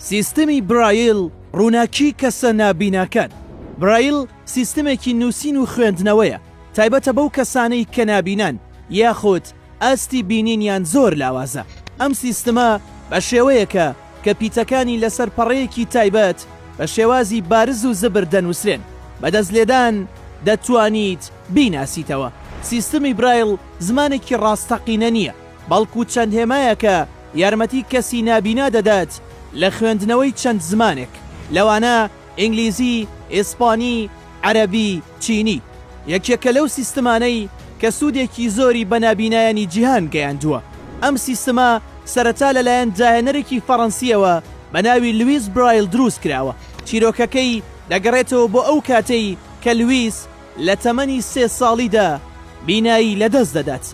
سیستمی برایل ڕووناکی کەسە نابیناکان برایل سیستمێکی نووسین و خوێندنەوەیە تایبەتە بەو کەسانەی کە نابینان یاخود ئاستی بینینیان زۆر لاوازە ئەم سیستمە بە شێوەیەکە کە پیتەکانی لەسەر پەڕەیەکی تایبەت بە شێوازی بارز و زبر دەنووسرێن بەدەست لێدان دەتوانیت بیناسیتەوە سیستمی برایل زمانێکی ڕاستەقینە نییە بەڵکو چەند هێمایەکە یارمەتی کەسی نابینا دەدات لە خوێندنەوەی چەند زمانێک، لەوانە ئینگلیزی، ئیسپانی، عەرەبی، چینی. یەکێکە لەو سیستمانەی کە سوودێکی زۆری بە نابینایانی جیهان گەیاندووە. ئەم سیستمە سەرەتا لەلایەن داهێنەرێکی فەڕەنسییەوە بە ناوی لویس برایل دروست کراوە. چیرۆکەکەی دەگەڕێتەوە بۆ ئەو کاتەی کە لویس، لە تەمەنی سێ ساڵیدا بینایی لەدەست دەدات،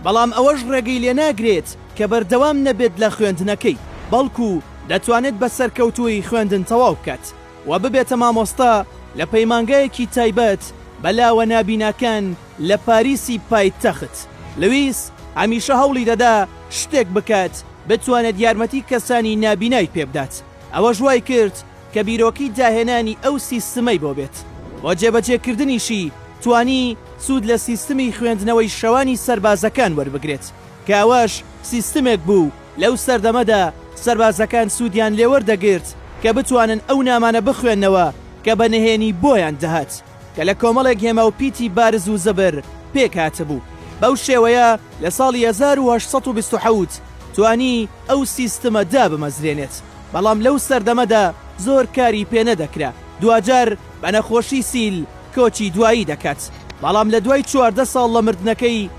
بەڵام ئەوەش ڕێگەی لێناگرێت کە بەردەوام نەبێت لە خوێندنەکەی، بەڵکو دەتوانێت بە سەرکەوتوویی خوێندن تەواو بکات و ببێتە مامۆستا لە پەیمانگایەکی تایبەت بە لاوە نابیناکان لە پاریسی پایتەخت. لویس هەمیشە هەوڵی دەدا شتێک بکات بتوانێت یارمەتی کەسانی نابینای پێبدات. ئەوەش وای کرد کە بیرۆکەی داهێنانی ئەو سیستمەی بۆ بێت و جێبەجێکردنیشی توانی سوود لە سیستمی خوێندنەوەی شەوانی سەربازەکان وەربگرێت کە ئەوەش سیستمێک بوو لەو سەردەمەدا سەربازەکان سوودیان لێوەردەگرت کە بتوانن ئەو نامانە بخوێننەوە کە بە نهێنی بۆیان دەهات. کە لە کۆمەڵێک هێما و پیتی بارز و زەبر پێک هاتبوو. بەو شێوەیە لە ساڵی هەزار و هەشت سەد و بیست و حەوت توانی ئەو سیستمە دابمەزرێنێت، بەڵام لەو سەردەمەدا زۆر کاری پێ نەدەکرا. دواجار بە نەخۆشی سیل کۆچی دوایی دەکات، بەڵام لە دوای چواردە ساڵ لە مردنەکەی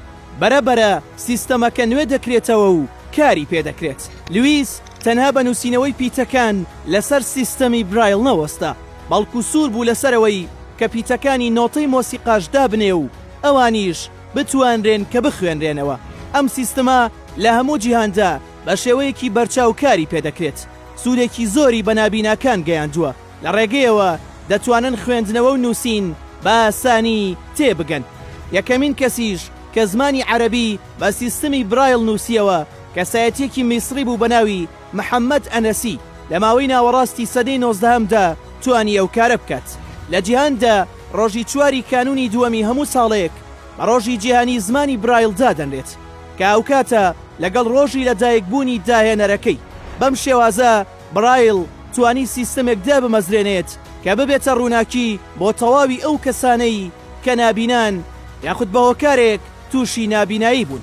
بەرە بەرە سیستەمەکە نوێ دەکرێتەوە و کاری پێ دەکرێت. لویس تەنها بە نووسینەوەی پیتەکان لەسەر سیستەمی برایڵ نەوەستا، بەڵکو سوور بوو لەسەرەوەی کە پیتەکانی نۆتەی مۆسیقاش دابنێ و ئەوانیش بتوانرێن کە بخوێنرێنەوە. ئەم سیستمە لە هەموو جیهاندا بە شێوەیەکی بەرچاو کاری پێ دەکرێت، سوودێکی زۆری بە نابیناکان گەیاندووە، لە ڕێگەیەوە دەتوانن خوێندنەوە و نووسین بە ئاسانی تێ بگەن. یەکەمین کەسیش کە زمانی عەرەبی بە سیستمی برایڵ نووسییەوە، کەسایەتییەکی میسڕی بوو بە ناوی، محەمەد ئەنەسی لە ماوەی ناوەڕاستی سەدەی نۆزدەهەمدا توانی ئەو کارە بکات. لە جیهاندا ڕۆژی چواری کانوونی دووەمی هەموو ساڵێک بە ڕۆژی جیهانی زمانی برایل دادەنرێت کە هاوکاتە لەگەڵ ڕۆژی لەدایکبوونی داهێنەرەکەی. بەم شێوازە برایل توانی سیستەمێک دابمەزرێنێت کە ببێتە ڕووناکی بۆ تەواوی ئەو کەسانەی کە نابینان یاخود بە هۆکارێک تووشی نابینایی بوون.